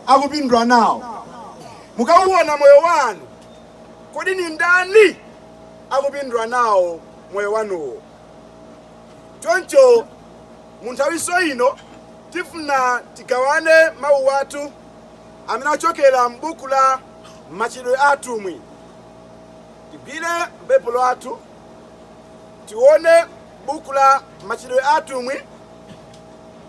akupindula nawo. Mukauona moyo wanu, kodi ni ndani akupindula nawo moyo wanuwo? Choncho mu nthawinso ino tifuna tigawane mawu athu amene achokera m'buku la Machitidwe a Atumwi. Tigwire Baibulo athu tione buku la Machitidwe a Atumwi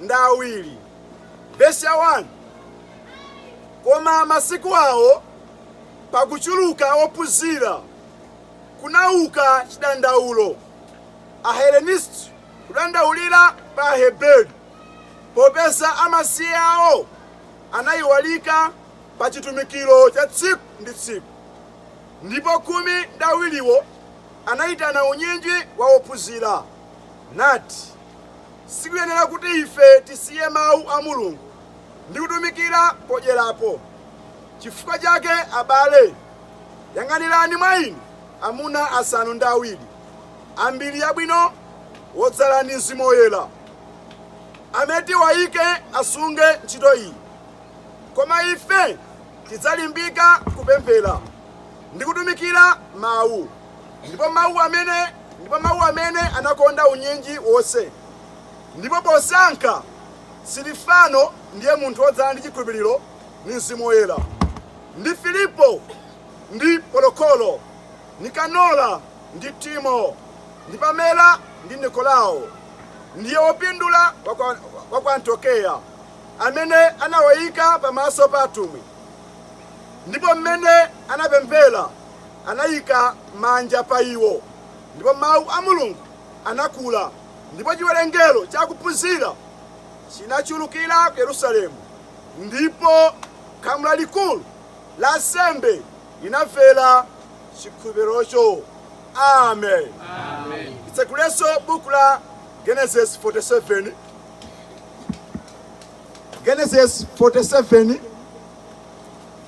ndi awiri. Vesi ya 1, Koma masiku awo, pakuchuluka ophunzira, kunauka chidandaulo, Ahelenisti kudandaulira pa Aheberi, popeza amasiye awo anaiwalika pa chitumikiro cha tsiku ndi tsiku. Ndipo khumi ndi awiriwo anaitana unyinji wa ophunzira, nati. Sikuyenera kuti ife tisiye Mawu a Mulungu ndi kutumikira podyerapo. Chifukwa chake, abale, yang'anirani mwa inu amuna asanu ndi awiri a mbiri yabwino, wodzala ndi Mzimu Woyera, amene tiwayike asunge ntchito iyi. Koma ife tidzalimbika kupemphera ndi kutumikira Mawu. Ndipo mawu amene anakonda unyinji wonse. Ndipo posankha Silifano, ndiye munthu wodzala ndi chikhulupiriro ndi Mzimu Woyera, ndi Filipo, ndi Polokolo, Nikanora, ndi Timo, ndi Pamela, ndi Nikolao, ndiye wopindula wa ku Antiokeya, amene anawayika pamaso pa atumwi ndipo mmene anapemphera anayika manja pa iwo, ndipo Mawu a Mulungu anakula, ndipo chiwerengero cha akuphunzira chinachulukira ku Yerusalemu, ndipo khamu lalikulu la ansembe linamvera chikhulupirirocho. Amen. Amen. Titsekulenso buku la Genesis 47. Genesis 47.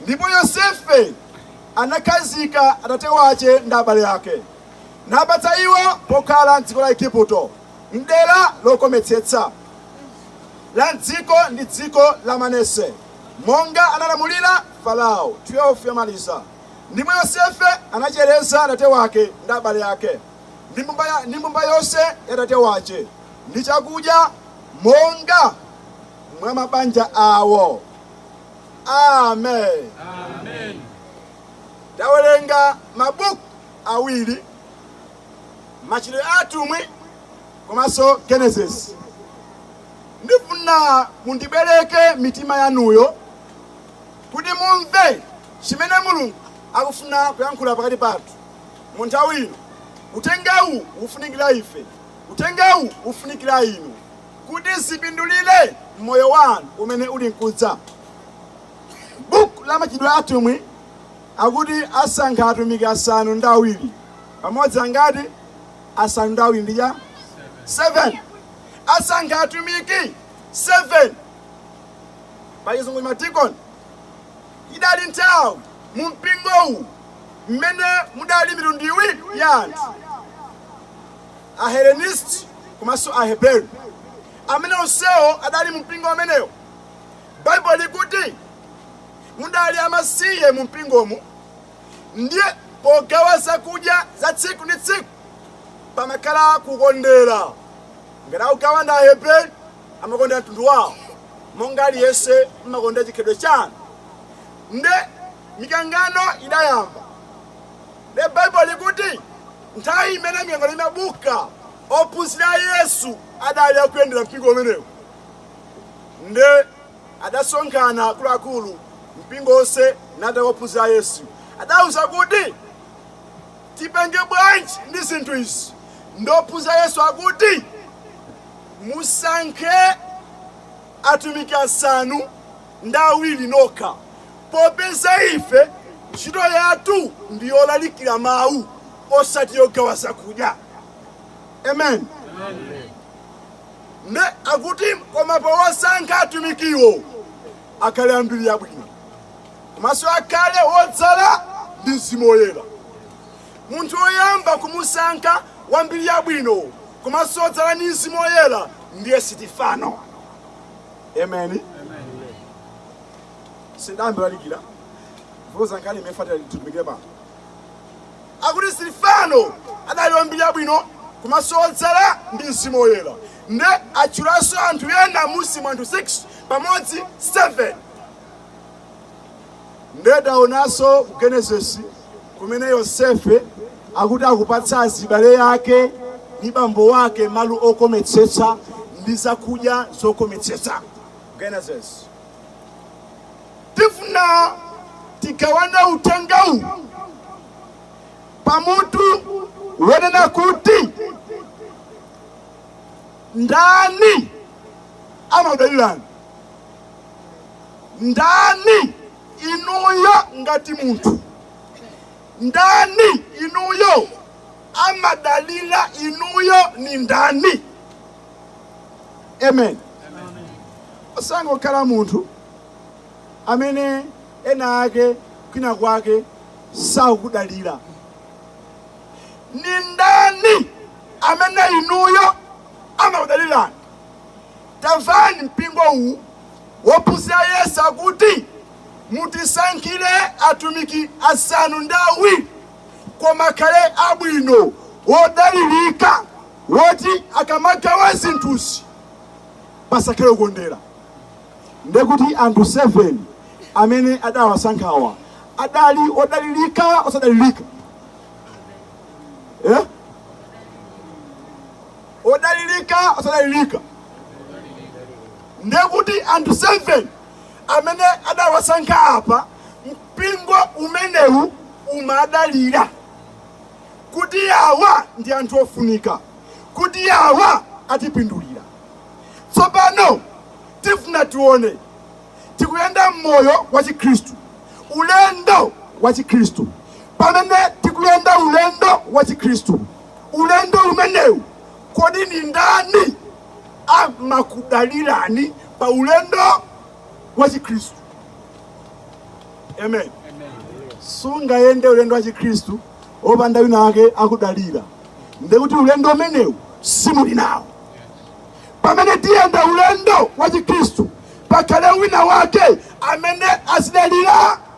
Ndipo Yosefe anakhazika atate wace ndi abale ake, napatsa iwo pokhala m'dziko la Aigupto, m'dera lokometsetsa la m'dziko ndi dziko la Manase, monga analamulira Farao. 12 yamaliza Ndipo Yosefe anachereza atate wake ndi abale ake ndi mbumba yonse ya atate wace ndi chakudya monga mwa mabanja awo. amen Amen. tawerenga mabuku awiri machitidwe a atumwi komanso genesis ndifuna mundibwereke mitima yanuyo kuti mumve chimene mulungu akufuna kuyankhula pakati pathu mu nthawi ino uthengawu ufunikira ife uthengawu ufunikira inu kuti zipindulire moyo wanu umene uli nkudza. Buku la Machitidwe a Atumwi akuti asankha atumiki asanu ndi awiri pamodzi angati asanu ndi awiri ndiye 7 asankha atumiki 7 pachizungu madikoni idali nthawi mu mpingowu mmene mudali mitundu iwiri ya anthu Ahelenisti komanso Aheberi, amene onsewo adali mu mpingo umenewo. Baibulo likuti mudali amasiye mu mpingomu, ndiye pogawa zakudya za tsiku ndi tsiku pamakhala kukondera. Ngati akugawa ndi Aheberi amakondera mtundu wawo, monga aliyense mmakondera chikhalidwe chanu. Nde mikangano idayamba. Nde Baibulo likuti Nthawi imene mikangano imabuka, ophunzira a Yesu adali akuyendera mpingo umenewo nde adasonkhana akuluakulu mpingo wonse nde ophunzira a Yesu adawauza kuti tipange bwanji ndi zinthu izi nde ophunzira a Yesu akuti musankhe atumiki asanu ndi awiri nokha, popeza ife ntchito yathu ndi yolalikira mawu osati yogawa zakudya. Amen. Nde akuti koma posankha atumikiwo akhale ambiri yabwino komanso akhale wodzala ndi mzimu woyera. Munthu woyamba kumusankha wambiri yabwino komanso wodzala ndi mzimu woyera ndiye Sitifano. amen sindinayambe kulalikira pokhudza nkhani imene tafuna titumikire pano akuti Sitifano adali wambiri yabwino komanso odzala ndi mzimu woyera nde atchulanso anthu ena mmusimu anthu 6 pamodzi 7 Nde taonanso ku Genesis kumene Yosefe akuti akupatsa azibale yake ndi bambo wake malo okometsetsa ndi zakudya zokometsetsa. Genesis. Tifuna tigawane uthengawu pamutu wonena kuti ndani amakudalirani ndani inuyo ngati munthu ndani inuyo amadalira inuyo ni ndani amen usangokhala munthu amene ena ake kwina kwake sakudalira ni ndani amene inuyo amakudalirani Tamvani mpingo uwu ophunzira a yesu akuti mutisankhire atumiki asanu ndi awiri koma akhale abwino odalirika oti akamagawa zinthuzi pasakhale kukondera ndekuti anthu 7 amene adawasankhawa adali odalirika osadalirika eh? odalirika osadalirika ndekuti anthu 7 amene adawasankha apa mpingo umenewu umadalira kuti awa ndi anthu ofunika kuti awa atipindulira tsopano tifuna tione tikuyenda mmoyo wa chikhristu ulendo wa chikhristu pamene tikuyenda ulendo wa chikhristu ulendo umenewu kodi ni ndani amakudalirani pa ulendo wa chikhristu amen sungayende ulendo wa chikhristu opanda wina wake okudalira ndekuti ulendo umenewu simuli nawo pamene tiyenda ulendo wa chikhristu pakhale wina wake amene azidalira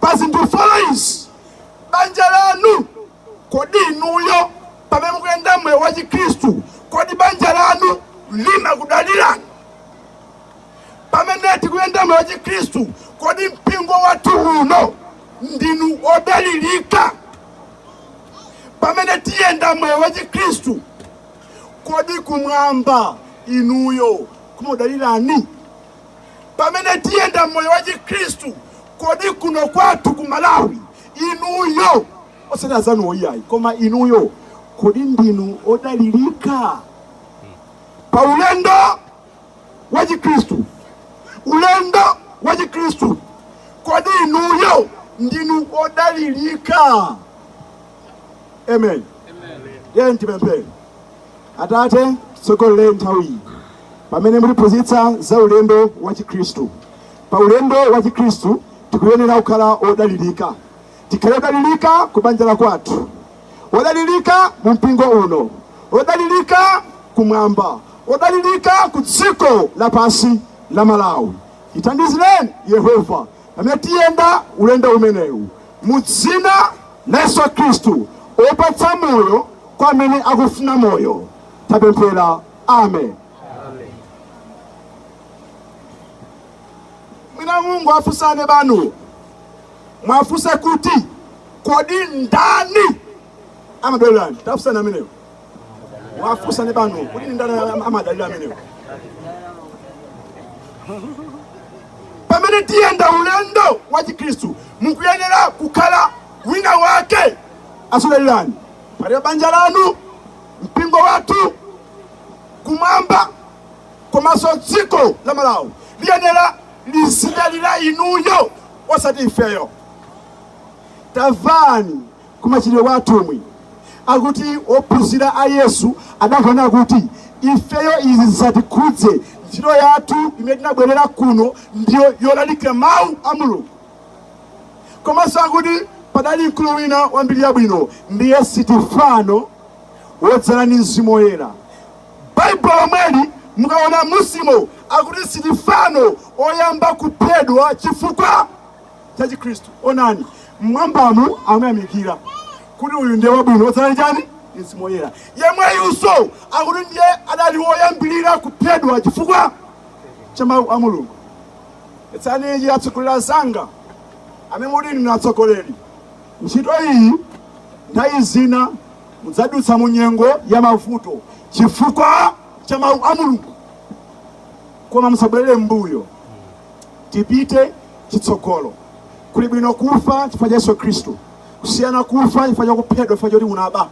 pa zinthu folo izi banja lanu kodi inuyo pamene mukuyenda moyo wa chikhristu kodi banja lanu limakudalirani pamene tikuyenda moyo wa chikhristu kodi mpingo wathu uno ndinu odalirika pamene tiyenda moyo wa chikhristu kodi kumwamba inuyo kumakudalirani pamene tiyenda moyo wa Chikhristu, kodi kuno kwathu ku Malawi inuyo osati azanuwo iyayi koma inuyo kodi ndinu odalirika pa ulendo wa Chikhristu? Ulendo wa Chikhristu, kodi inuyo ndinu odalirika? Amen. Amen. Tiyeni tipemphere. Atate, tsogolereni nthawiyi pamene mukutiphunzitsa za ulendo wa Chikhristu. Pa ulendo wa Chikhristu tikuyenera kukhala odalirika, tikhale odalirika ku banja la kwathu, odalirika mu mpingo uno, odalirika kumwamba, odalirika ku dziko lapansi la Malawi. Tithandizireni Yehova pamene tiyenda ulendo umenewu, mu dzina la Yesu Khristu opatsa moyo kwa amene akufuna moyo tapemphera amen mwina mungowafunsa aneba anu muwafunse kuti kodi ndani amakudalirani tafunsani ameneyo wafunseni aneba anu kuti ndani amadalira amenewo pamene tiyenda ulendo wa chikhristu mukuyenera kukhala wina wake azikudalirani pali banja lanu mpingo wathu kumwamba komanso dziko la malawi liyenera lizidalira inuyo osati ifeyo tamvani ku Machitidwe kwa Atumwi akuti ophunzira a Yesu adawona kuti ifeyo izi zisatikhudze ntchito yathu imene tinabwerera kuno ndiyo yolalikira mawu a Mulungu komanso akuti padali mkulu wina wa mbiri yabwino ndiye Sitifano wodzala ndi mzimu woyera baibulo lomweli mukaona mmusimo akuti Sitifano oyamba kuphedwa chifukwa cha Chikhristu. Onani, mmwambamu amayamikira kuti uyu ndiye wabwino odzala ndi mzimu woyera yemweyunso akuti ndiye adali woyambirira kuphedwa chifukwa cha mawu a mulungu mvetsani ichi atsogoleri anzanga amene muti ndinu atsogoleri ntchito iyi nthawi zina mudzadutsa mu nyengo ya mavuto chifukwa cha mawu a mulungu koma musabwerere mbuyo tipite chitsogolo. Kuli bwino kufa chifukwa cha Yesu Khristu kusiyana kufa chifukwa cha kuphedwa chifukwa choti unaba.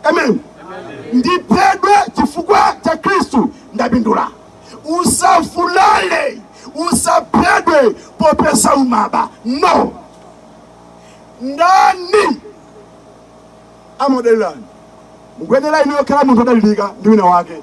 Amen. Ndiphedwe chifukwa cha Khristu ndapindula. Usavulale, usaphedwe popeza umaba. No. Ndani amakudalirani mukuyenera inuyo kukhala munthu odalirika ndi wina wake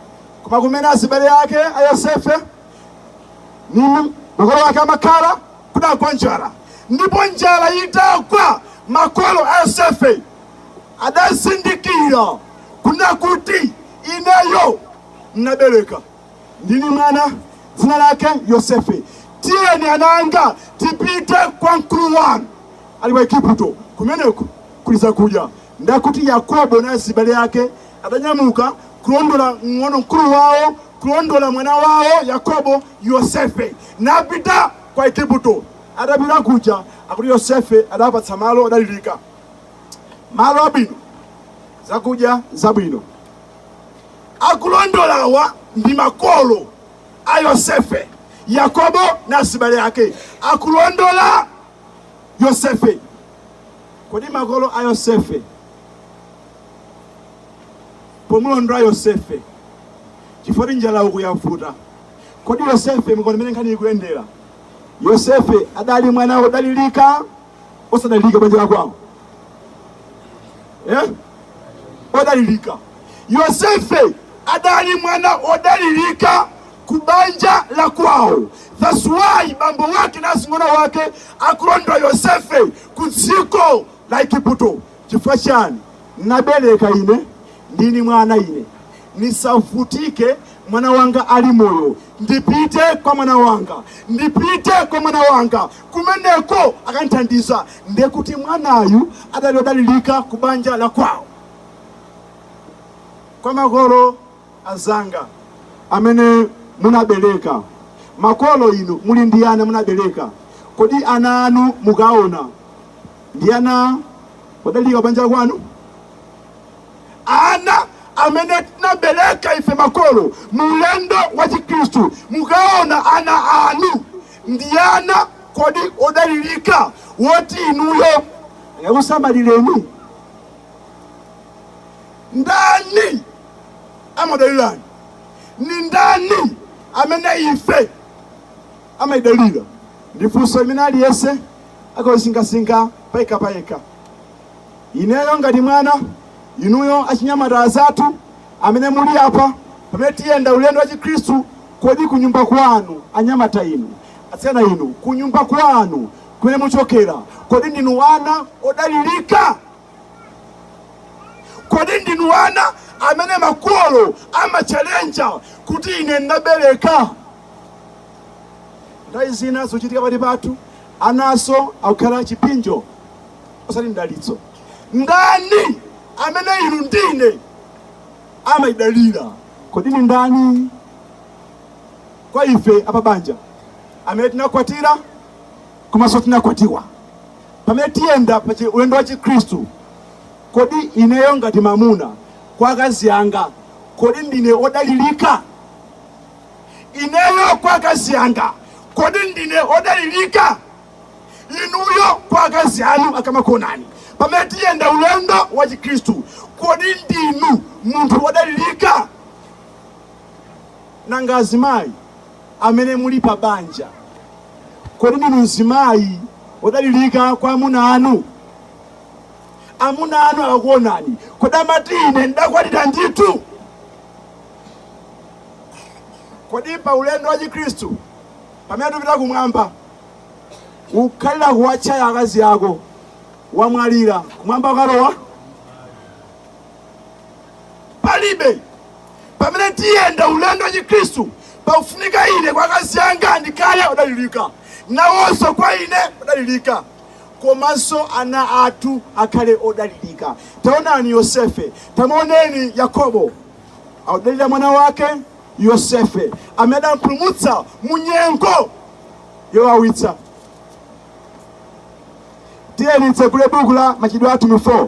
koma kumene azibale ake a yosefe nini makolo ake amakhala kudagwa njala ndipo njala itagwa makolo a yosefe adazindikira kuna kuti ineyo mnabereka ndini mwana dzina lake yosefe tiyeni ananga tipite kwa mkulu wanu ali wa igupto kumeneko kuli zakudya ndakuti yakobo na azibale ake Adanyamuka kulondola mng'ono mkulu wawo, kulondola mwana wawo Yakobo, Yosefe, napita kwa Aigupto. Atapita kuja, akuti Yosefe adawapatsa malo odalirika, malo abwino, zakudya zabwino. Akulondolawa ndi makolo a Yosefe, Yakobo na azibale ake, akulondola Yosefe. Kodi makolo a Yosefe pomulondola yosefe chifukwa ti njala uku yavuta kodi yosefe m'kuona mmene nkhani ikuyendera yosefe adali mwana wodalirika osadalirika banja la kwawo eh? odalirika yosefe adali mwana odalirika ku banja la kwawo that's why bambo wake na azing'ono wake akulondola yosefe ku dziko la igupto chifukwa chani nabereka ine ndi ni mwana ine nisavutike mwana wanga ali moyo ndipite kwa mwana wanga ndipite kwa mwana wanga kumeneko akandithandiza ndekuti mwanayu adali odalilika ku banja la kwawo kwa makolo azanga amene munabereka, makolo inu muli ndi ana munabereka, kodi ana anu mukaona ndi ana odalirika kubanja kwanu? Ana amene tinabereka ife makolo mulendo wa Chikristu, mukaona ana anu ndi ana kodi odalirika woti inuyo angakusamalireni? Ndani amadalirani? Ni ndani amene ife amatidalira? Ndi funso limene aliyense akalisinkhasinkha payekha payekha. Ineyo ngati mwana, inuyo achinyamata azathu amene muli apa, pamene tiyenda ulendo wa Chikhristu, kodi kunyumba kwanu, anyamata inu, atsikana inu, kunyumba kwanu kumene muchokera, kodi ndinu ana odalirika? kodi ndinu ana amene makolo amachalenja kuti ine ndabereka nthawi zina zochitika pakati pathu anaso akukhala chipinjo osati mdalitso ndani amene inu ndi ine amawadalira kodi ndi ndani kwa ife a pabanja amene tinakwatira komanso tinakwatiwa Pamene tiyenda pa ulendo wa Chikhristu, kodi ineyo ngati mamuna kwa akazi anga, kodi ndine odalilika? Ineyo kwa akazi anga, kodi ndine odalilika? Inuyo kwa akazi anu akamakuonani pamene tiyenda ulendo wa Chikhristu, kodi ndinu munthu odalilika? Nanga azimayi amene muli pa banja? Kodi ndinu mzimayi wodalilika kwa amuna anu? Amuna anu akakuonani, kodi amati ine ndakwatira ndithu? Kodi pa ulendo wa Chikristu pamene tupita kumwamba ukhalira kuwatchaya akazi ako wamwalira kumwamba ukalowa? palibe pamene tiyenda ulendo wa chikhristu pakufunika ine kwa akazi anga ndikhale odalilika nawonso kwa ine odalilika komanso ana athu akhale odalilika taonani yosefe tamuoneni yakobo akudalira mwana wake yosefe amene adampulumutsa mu nyengo yowawitsa tiyeni titsegule buku la machitidwe a atumwi 4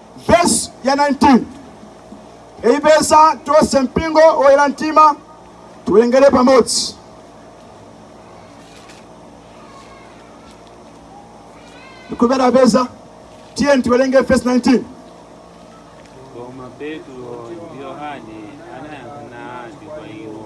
vesi ya 19 aipeza tonse mpingo woyera mtima tiwerengere pamodzi ndikhulupirira apeza tiyeni tiwerenge vesi 19 Koma Petro ndi Yohane anayankha nati kwa iwo,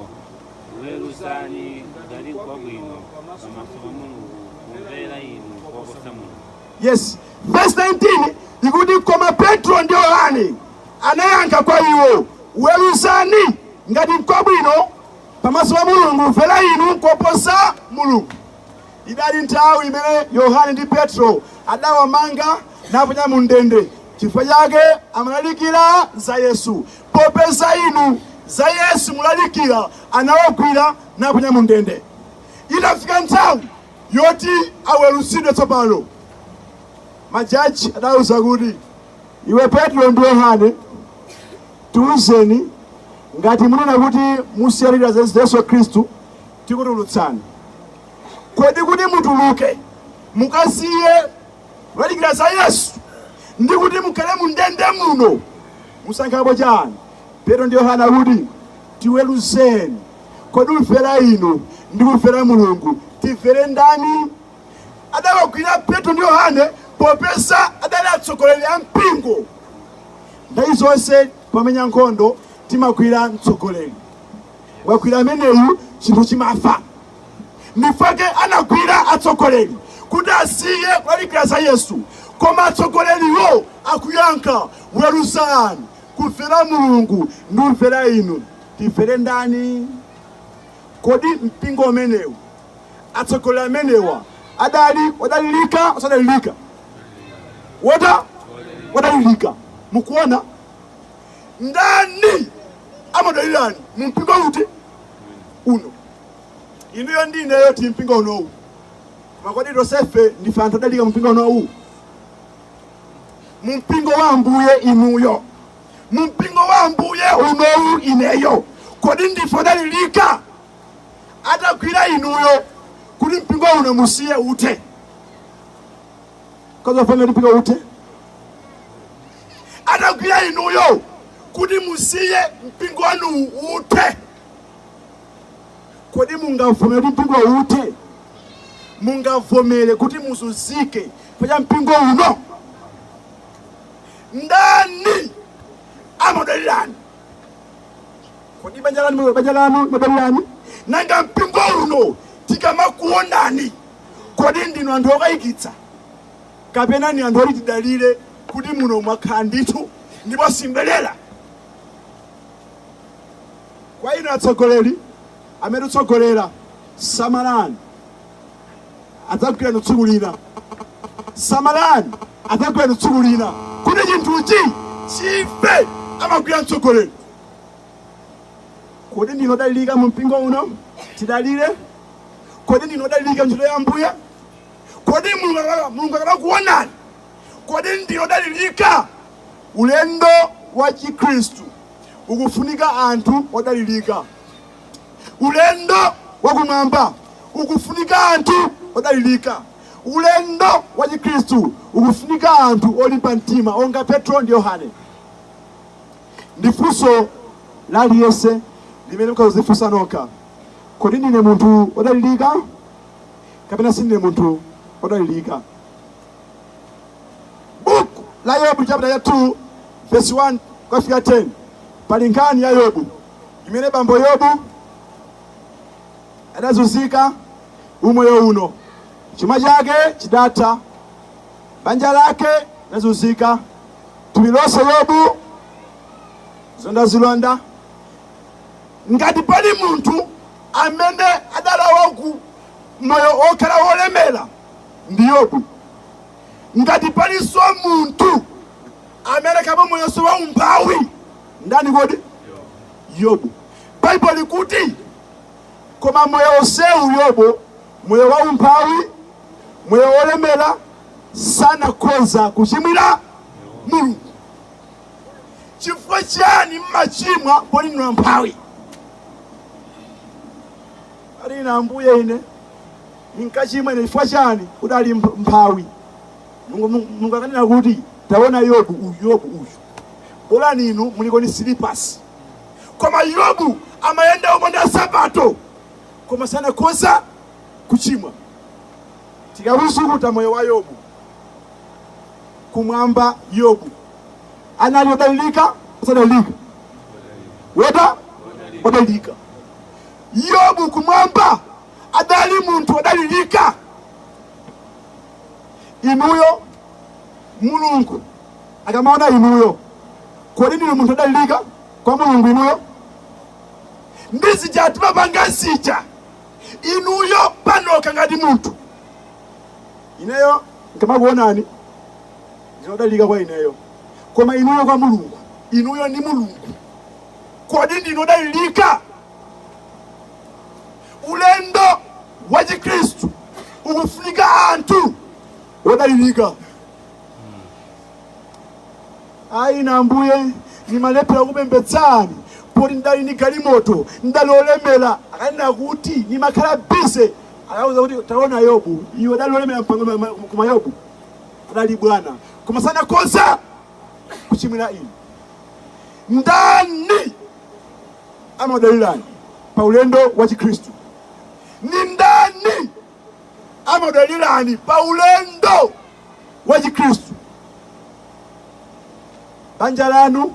weruzani ngati nkwabwino pamaso pa Mulungu kumvera inu koposa Mulungu. Yes. Verse 19 ikuti koma Petro ndi Yohane anayankha kwa iwo, weruzani ngati nkwabwino pamaso pa Mulungu, kumvera inu koposa Mulungu. Idali nthawi imene Yohane ndi Petro adawamanga naponya mu ndende, chifukwa chake amalalikira za Yesu. Popeza inu za Yesu mulalikira, anawagwira naponya mu ndende. Idafika nthawi yoti aweruzidwe tsopano, majaji adauza kuti, Iwe Petro ndi Yohane, tiuzeni ngati munena kuti musiya kulalikira za Yesu Khristu, tikutulutsani. Kodi kuti mutuluke mukasiye kulalikira za Yesu ndi kuti mukhale mu ndende muno musankhapo chani? Petro ndi Yohane akuti tiweruzeni. kodi kumvera inu ndi kumvera mulungu timvere ndani adawagwira petro ndi yohane popeza adali atsogoleri a mpingo nthawi zonse pomenya nkhondo timagwira mtsogoleri wagwira ameneyu chinthu chimafa nchifukwa chake anagwira atsogoleri kuti asiye kulalikira za yesu koma atsogoleriwo akuyankha weruzani kumvera mulungu ndi kumvera inu Timvere ndani? Kodi mpingo umenewu, atsogoleri amenewa adali odalirika osadalirika wota odalirika? Mukuona ndani amadalirani mu mpingo uti uno? Inuyo ndi ineyo ti mpingo unowu, koma kodi tonsefe ndife anthu odalirika mu mpingo unowu? Mu mpingo wa Ambuye inuyo mu mpingo wa ambuye unowu ineyo kodi ndife odalirika atagwira inuyo kuti mpingo uno musiye uthe kozofana kuti mpingo uthe atagwira inuyo kuti musiye mpingo wanu uthe kodi mungavomere kuti mpingo uthe mungavomere kuti muzunzike pacha mpingo uno ndani amadalirani kodi banja lanu banja lanu amadalirani nanga mpingo uno tikamakuonani kodi ndinu anthu okayikitsa kapena ni anthu oti tidalire kuti muno mwakhala ndithu ndipo simubwerera kwa inu atsogoleri amene mutsogolera samalani adzagwira inu tsiku lina samalani adzagwira inu tsiku lina kuti chinthuchi chife amagwira mtsogoleri kodi ndinu odalirika mu mpingo uno tidalire kodi ndinu odalirika ntchito ya ambuye kodi mulungu akamakuonani kodi ndinu odalirika ulendo wa chikhristu ukufunika anthu odalirika Ulendo wakumwamba ukufunika anthu odalirika. Ulendo wachikristu ukufunika anthu olimba mtima onga Petro ndi Yohane. Ndi funso la aliyense limene mukadzifunsa nokha, kodi ndine munthu odalirika kapena sindine munthu odalirika? Buku la Yobu chapter cha 2 verse 1 kufika 10 pali nkhani ya Yobu. imene bambo Yobu adazunzika umoyo uno, chuma chake chidatha, banja lake linazunzika, thupi lonse Yobu zilondazilonda. Ngati pali munthu amene adalawa ku moyo okhala wolemera ndi Yobu. Ngati palinso munthu amene kaba moyonso wa umphawi ndani kodi yobu baibo likuti koma moyo onsewu yobo moyo wa umphawi moyo wolemera sanakhoza kuchimwira mulungu chifukwa chiyani mmachimwa poti ndinu amphawi ali ine ambuye ine nimkachimwa ine chifukwa chiyani ndidali mphawi mulungu akanena kuti taona yobu uyu yobu uyu bolani inu muliko ni silipasi koma yobu amayenda opanda nsapato koma sanakhoza kuchimwa tikawusukuta moyo wa yobu kumwamba yobu anali odalilika osadalilika woda odalilika yobu kumwamba adali munthu odalilika inuyo mulungu akamaona inuyo, kodi ndinu munthu odalirika kwa Mulungu inuyo? Ndi zija mumapanga zija inuyo panokha ngati munthu, ineyo nkamakuonani ndinodalirika kwa ineyo, koma inuyo kwa Mulungu, inuyo ndi Mulungu, kodi ndinodalirika? Ulendo wa Chikristu ukufunika anthu odalirika. ayi ine ambuye nimalephera kupembedzani poti ndidali ni galimoto ndidali olemera akanena kuti nimakhala bize akakuuza kuti taona yobu iwe udali olemera mpang'ono koma yobu adali bwana koma sanakhoza kuchimwira ine ndani amakudalirani pa ulendo wa chikhristu ni ndani amakudalirani pa ulendo wa Chikhristu. Banja lanu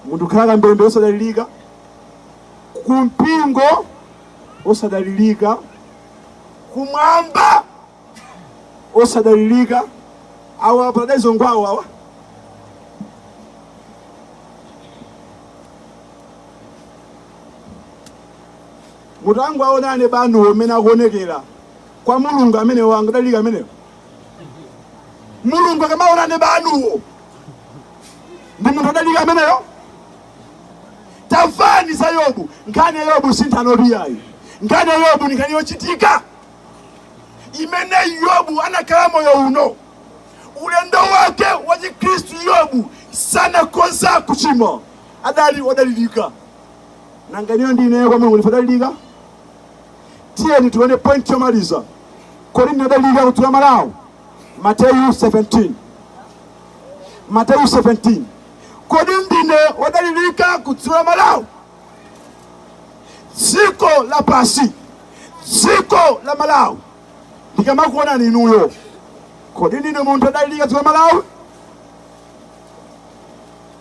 munthu khala kambembe osadalirika, ku mpingo osadalirika, kumwamba osadalirika, awa paradaizo ngwawo awa Mutangowona abanuwo mmene akuonekera kwa Mulungu amenewo angadalirike amenewo. Mulungu akamaona abanuwo ndi munthu odalirika ameneyo. Tamvani za Yobu, nkhani ya Yobu si nthano iyayi. Nkhani ya Yobu ndi nkhani yochitika imene Yobu anakhala moyo uno ulendo wake wa Chikristu. Yobu sanakonze kuchimwa, adali odalirika. nanga inuyo ndi ineyo kwa mulungu ndife odalirika tiyeni tione point yomaliza kodi ndine odalirika kudziko la malawi mateyu 17 mateyu 17 kodi ndine odalirika kudziko la malawi dziko la pasi dziko la malawi ndikamakuonani inuyo kodi ndine munthu odalirika dziko la malawi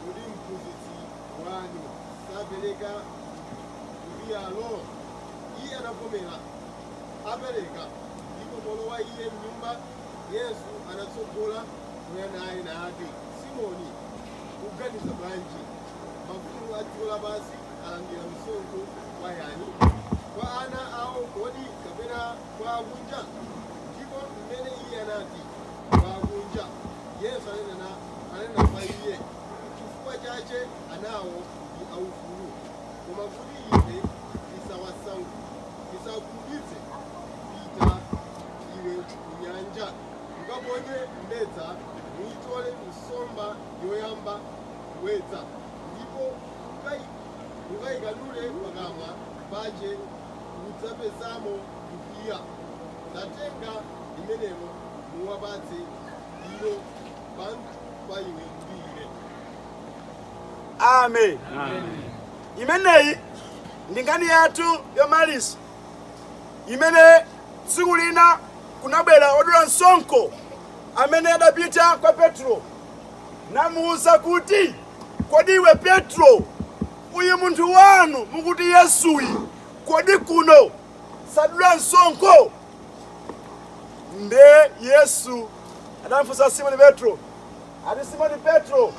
Kodi mphunzitsi wanu sapereka lupiyalo? Iye anavomera, apereka. Ndipo polowa Iye mnyumba, Yesu anatsogola kuyamba naye nati, Simoni, uganiza bwanji? Mafumu a dziko lapansi alandira msonkho kwa yani? Kwa ana ao kodi, kapena kwa akunja? Ndipo m'mene Iye anati, Kwa akunja, Yesu ananena ananena kwa iye, Chifukwa chache anawo ali aufulu, koma kuti ife tisawasau- tisawakhumudwitse, pita iwe kunyanja, ukaponye mbedza, nuitole nsomba yoyamba kuwedza, ndipo ukai- ukaikanule pakamwa pache, udzapezamo lupiya. Tatenga limenelo, nuwapatse ilo. amen imeneyi ndi nkhani yathu yomaliza imene tsiku lina kunabwera odula msonkho amene adapita kwa petro namuwuza kuti kodi iwe petro uyu munthu wanu mukuti yesuyu kodi kuno sadula msonkho Nde Yesu adamfunsa Simoni Petro ati, Simoni Petro,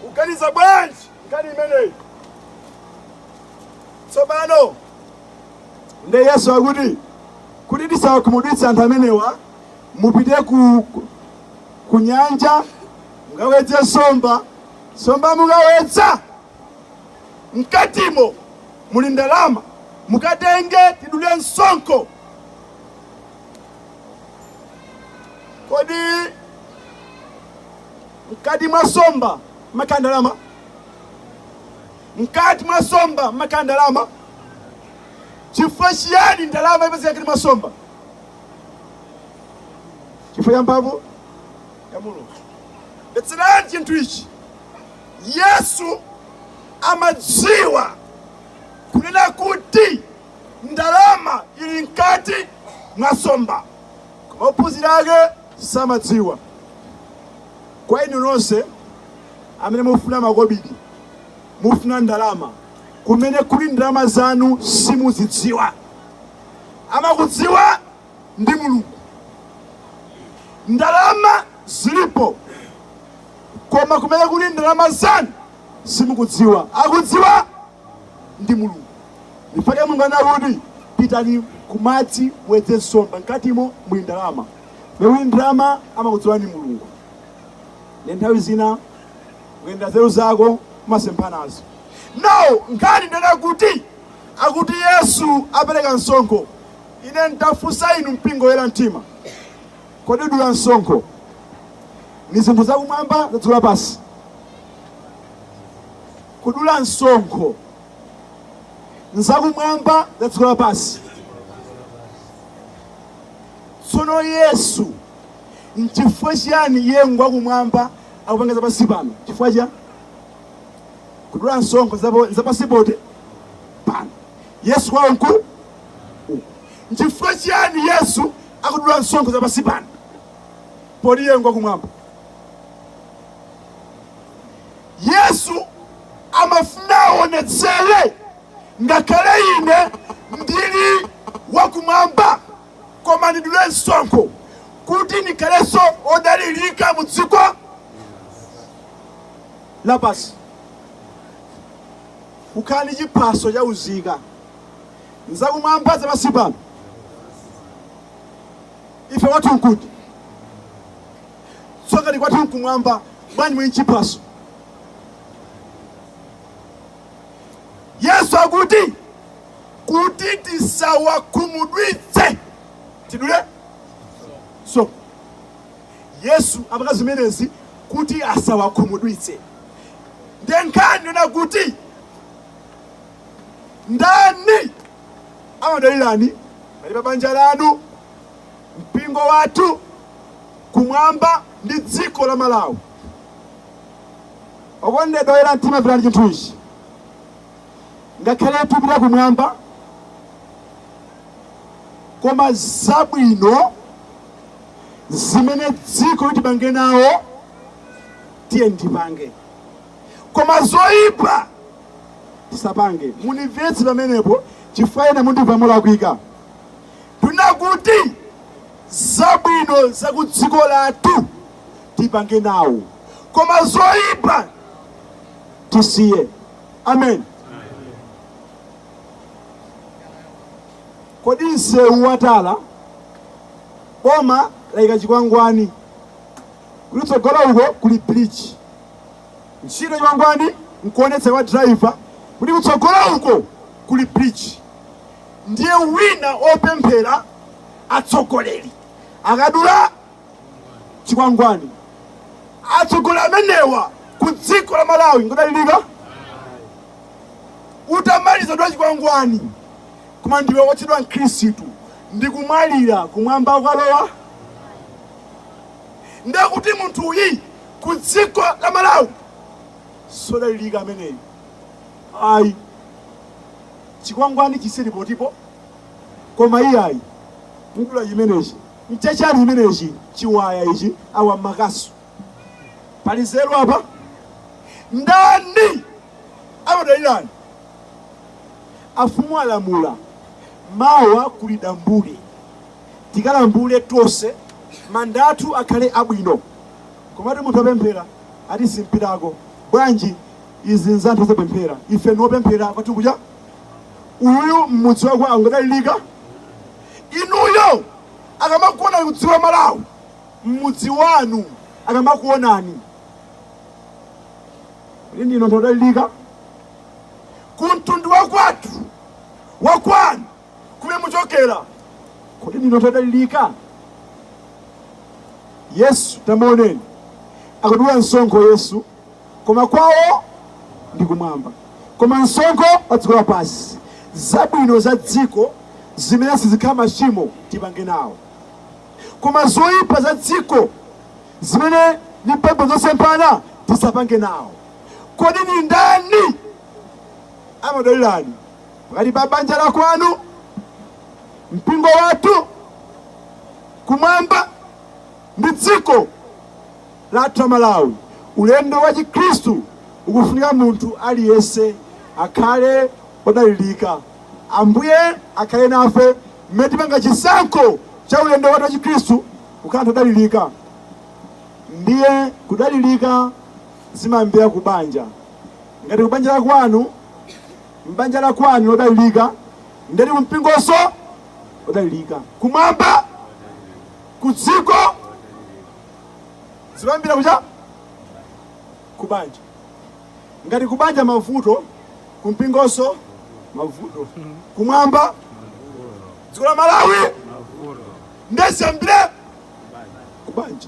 uganiza bwanji nkhani imeneyi? Tsopano nde Yesu akuti kuti tisawakhumudwitse anthu amenewa, mupite ku, ku, ku nyanja mukawedze nsomba, nsomba mukawedza mkatimo muli ndalama mukatenge tidule msonkho kodi mkati mwa nsomba mmakhala ndalama mkati mwa nsomba mmakhala ndalama chifukwa chiyani ndalama ipezeka mkati mwa nsomba chifukwa cha mphamvu ya mulungu mvetserani chinthu ichi Yesu amadziwa kunena kuti ndalama ili mkati mwa nsomba, koma ophunzira ake samadziwa. Kwa inu nonse amene mufuna makobidi, mufuna ndalama, kumene kuli ndalama zanu simukudziwa. Amakudziwa ndi mulungu ndalama zilipo koma kumene kuli ndalama zanu simukudziwa akudziwa ndi mulungu nchifukwa chake mulungu anakuti pitani kumadzi muwedze nsomba mkatimo muli ndalama muli ndalama amakudziwa ndi mulungu nde nthawi zina kuyendera nzeru zako umasemphanazo nawo nkhani nnena kuti akuti yesu apereka msonkho Ine nditafunsa inu mpingo woyera mtima, kodi kudula msonkho ni zinthu zakumwamba za dziko lapansi? Kudula msonkho nzakumwamba za dziko lapansi. Tsono Yesu nchifukwa chiyani iye ngwakumwamba akupanga zapansi pano? Chifukwa chani akudula msonkho zapo- zapansi poti pano. Yesu kwawo nkuti Nchifukwa chiyani Yesu akudula msonkho za pansi pano poti iye ngwakumwamba? Yesu amafuna aonetsere ngakhale ine ndili wakumwamba koma ndidule msonkho kuti ndikhalenso odalirika mu dziko lapansi. Kukhala ndi chiphaso cha uzika ndzakumwamba za pansi pano ife kwathu nkuti tsoka ndi kwathu nkumwamba bwanji mwenye chiphaso yesu akuti kuti tisawakhumudwitse tidule so yesu apanga zimenezi kuti asawakhumudwitse nde nkhani yonena kuti ndani amadalirani pali pa banja lanu mpingo wathu kumwamba ndi dziko la malawi okondedwa oyera mtima mverani chinthu ichi ngakhale tupita kumwamba koma zabwino zimene dziko tipange nawo tiye ndipange koma zoyipa tisapange mundimvetse pamenepo chifukwa ena mundimva molakwika tunena kuti zabwino za ku dziko lathu tipange nawo koma zoyipa tisiye ameni kodi msewu watala boma layika chikwangwani kuti kutsogolo uko kuli bridge Ntchito ya chikwangwani nkuonetsa kwa driver kuti kutsogolo uko kuli bridge. Ndiye wina opemphera atsogoleri akadula chikwangwani atsogoleri amenewa ku dziko la Malawi ngodalirika utamaliza dwa chikwangwani koma ndiwe wotchedwa mkhristu ndi kumwalira kumwamba ukalowa ndekuti munthu uyu ku dziko la Malawi sodalilika ameneyi ayi chikwangwani chisiye lipotipo koma iyayi mudula chimenechi mchachali chimenechi chiwaya ichi awa makasu pali zero apa ndani amadalirani afumu alamula mawa kuli dambule tikalambule tonse manda athu akhale abwino komatu munthu wopemphera ati simpitako bwanji izi nza anthu osapemphera ife ndi opemphera kwathu kuja uyu mmudzi wake angadalilika inuyo akamakuonani ku dziko la malawi mmudzi wanu akamakuonani kuti ndinu anthu odalilika ku mtundu wakwathu wakwanu kumene muchokera kodi ndinu anthu odalirika yesu tamuoneni akudula msonkho yesu koma kwawo ndi kumwamba koma msonkho pa dziko lapansi zabwino za dziko zimene sizikhala machimo tipange nawo koma zoyipa za dziko zimene ni mphepo zosemphana tisapange nawo kodi ni ndani amadalirani pakati pa banja la kwanu, mpingo wathu, kumwamba ndi dziko lathu la Malawi. Ulendo wa Chikhristu ukufunika munthu aliyense akhale odalirika. Ambuye akhale nafe mmene tipanga chisankho cha ulendo wathu wa Chikhristu kukhala anthu odalirika. Ndiye kudalirika zimayambira ku banja. Ngati ku banja la kwanu m'banja la kwanu odalirika ndeti kumpingonso odalirika kumwamba ku dziko zimayambira kuja kubanja ngati kubanja mavuto kumpingonso mavuto kumwamba dziko la malawi nde ziyambire kubanja